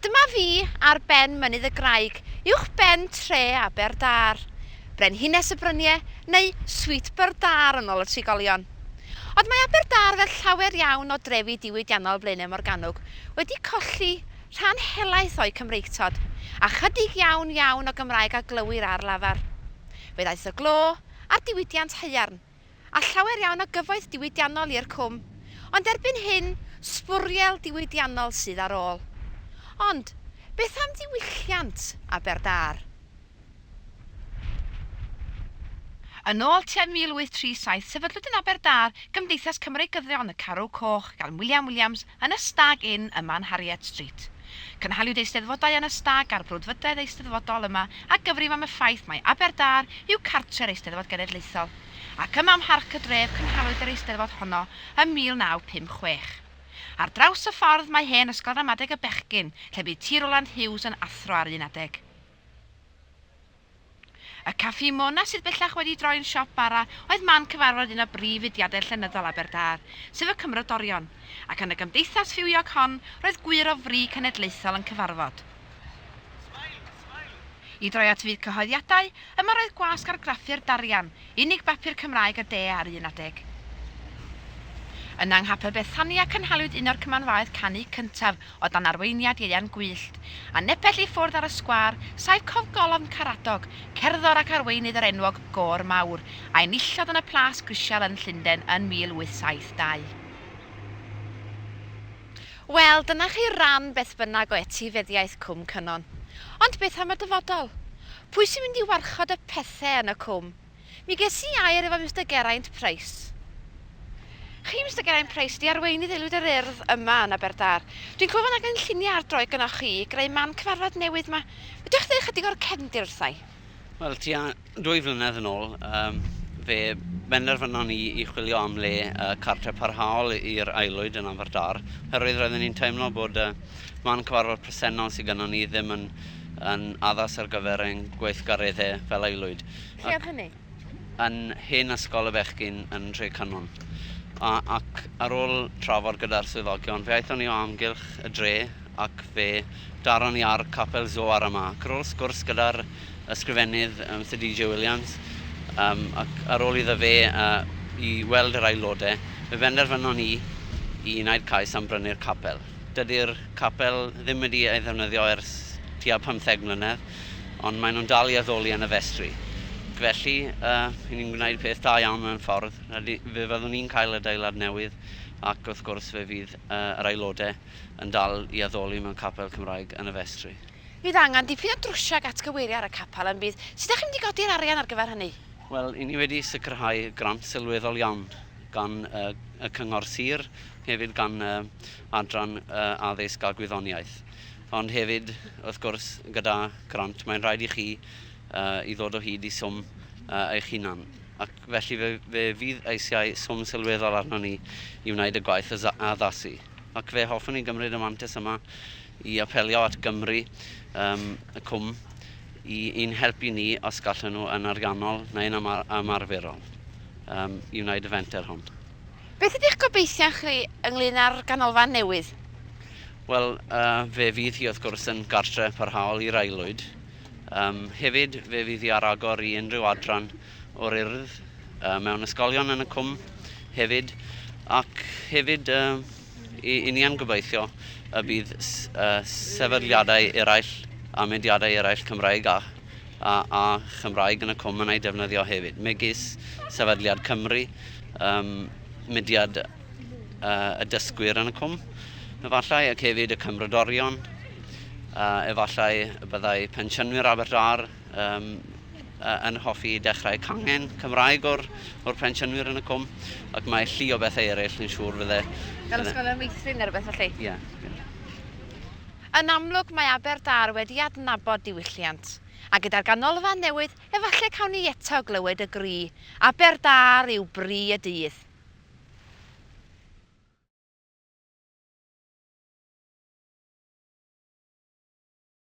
Dyma fi ar ben Mynydd y Graig, uwch ben tre Aberdâr. Brenhines y Brynie, neu Sweetburn Dâr yn ôl y trigolion. Ond mae Aberdâr fel llawer iawn o drefi diwydiannol Blaenau Morgannwg wedi colli rhan helaeth o'u Cymreictod, a chydig iawn iawn o Gymraeg a glywir ar lafar. Fe ddaeth y glo a'r diwydiant haearn. a llawer iawn o gyfoeth diwydiannol i'r Cwm, ond erbyn hyn, sbwriel diwydiannol sydd ar ôl. Ond, beth am ddiwylliant Aberdâr? Yn ôl tua 1837, sefydlwyd yn Aberdâr Gymdeithas Cymreigyddion y Carw Coch gan William Williams yn y Stag Inn ym Mhanhariet Street. Cynhaliwyd Eisteddfodau yn y Stag a'r Brwdfrydedd Eisteddfodol yma a gyfrif am y ffaith mai Aberdâr yw cartre'r Eisteddfod Genedlaethol, ac yma ym Mharc y Dref cynhaliwyd yr Eisteddfod honno ym 1956. Ar draws y ffordd mae hen Ysgol Ramadeg y Bechgyn, lle bu Ti Rowland Hughes yn athro ar un adeg. Y Caffi Mona sydd bellach wedi droi'n siop bara oedd man cyfarfod un o brif fudiadau llenyddol Aberdâr, sef y Cymrodorion, ac yn y gymdeithas fywiog hon roedd gwŷr o fri cenedlaethol yn cyfarfod. I droi at fyd cyhoeddiadau, yma roedd gwasg argraffu'r Darian, Unig bapur Cymraeg a de ar un adeg. Yn anghabel Bethania cynhaliwyd un o'r cymanfaoedd canu cyntaf o dan arweiniad Ieuan Gwyllt, a nepell i ffwrdd ar y sgwâr saif cofgolofn Caradog, cerddor ac arweinydd yr enwog Gôr Mawr, a enillodd yn y Plas Grisial yn Llundain yn 1872. Wel, dyna chi ran beth bynnag o etifeddiaeth Cwm Cynon. Ond beth am y dyfodol? Pwy sy'n mynd i warchod y pethe yn y Cwm? Mi ges i air efo Mister Geraint Price. Chi, Mister Geraint Price, ydi arweinydd Aelwyd yr Urdd yma yn Aberdâr. Dwi'n clywed fod angen lluniau ar droed gynnoch chi i greu man cyfarfod newydd 'ma. Fedrwch ddeu ychydig o'r cefndir wrthai? Wel, tua dwy flynedd yn ôl, yym, fe benderfynon ni i chwilio am le yy cartre parhaol i'r aelwyd yn Aberdâr, oherwydd roedden ni'n teimlo bod y man cyfarfod presennol sy gynnon ni ddim yn yn addas ar gyfer ein gweithgareddau fel aelwyd. Lle oedd hynny? Yn Hen Ysgol y Bechgyn yn Nhre Cynon. A, ac ar ôl trafod gyda'r swyddogion, fe aethon ni o amgylch y dre ac fe daron ni ar Capel Zoar yma. Ac ar ôl sgwrs gyda'r ysgrifennydd, um, Sir DJ Williams, um, ac ar ôl iddo fe uh, i weld yr aelodau, fe benderfynon ni i wneud cais am brynu'r capel. Dydy'r capel ddim wedi ei ddefnyddio ers tua pymtheg mlynedd, ond maen nhw'n dal i addoli yn y festri. Felly, yy, ni'n gwneud peth da iawn mewn ffordd. Rydyn, fe fyddwn ni'n cael adeilad newydd, ac wrth gwrs fe fydd yy yr aelodau yn dal i addoli mewn capel Cymraeg yn y festri. Bydd angen dipyn o drwsio ac atgyweirio ar y capel yn bydd? Sut dach chi'n mynd i godi'r arian ar gyfer hynny? Wel, 'yn ni wedi sicrhau grant sylweddol iawn gan y Cyngor Sir, hefyd gan y Adran Addysg a Gwyddoniaeth. Ond hefyd, wrth gwrs, gyda grant, mae'n rhaid i chi i ddod o hyd i swm eich hunan. Ac felly fe, fe fydd eisiau swm sylweddol arno ni i wneud y gwaith addasu. Ac fe hoffwn i gymryd y mantais yma i apelio at Gymru, yym, y Cwm, i i'n helpu ni, os gallen nhw, yn ariannol neu'n yma- ymarferol, yym, i wneud y fenter hwn. Beth ydych gobeithion chi ynglŷn â'r ganolfan newydd? Wel, yy, fe fydd hi, wrth gwrs, yn gartre parhaol i'r aelwyd. Yym, hefyd, fe fydd hi ar agor i unrhyw adran o'r Urdd, yy, mewn ysgolion yn y Cwm, hefyd, ac hefyd, yy, Y ni am gobeithio y bydd sefydliadau eraill a mudiadau eraill Cymraeg a a Chymraeg yn y cwm yn ei defnyddio hefyd, megis Sefydliad Cymru, um, mudiad uh, y dysgwyr yn y cwm, efallai, ac hefyd y cymrodorion, uh, efallai y byddai pensiynwyr Abertdâr yym yy yn hoffi dechrau cangen Cymraeg o'r o'r pensiynwyr yn y cwm ac mae llu o bethau eraill dwi'n siŵr fydde... Fel ysgol yn meithrin neu rywbeth felly? Ie, ie. Yn amlwg mae Aberdâr wedi adnabod diwylliant, a gyda'r ganolfan newydd efallai cawn ni eto glywed y gri, 'Aberdâr yw bri y dydd'.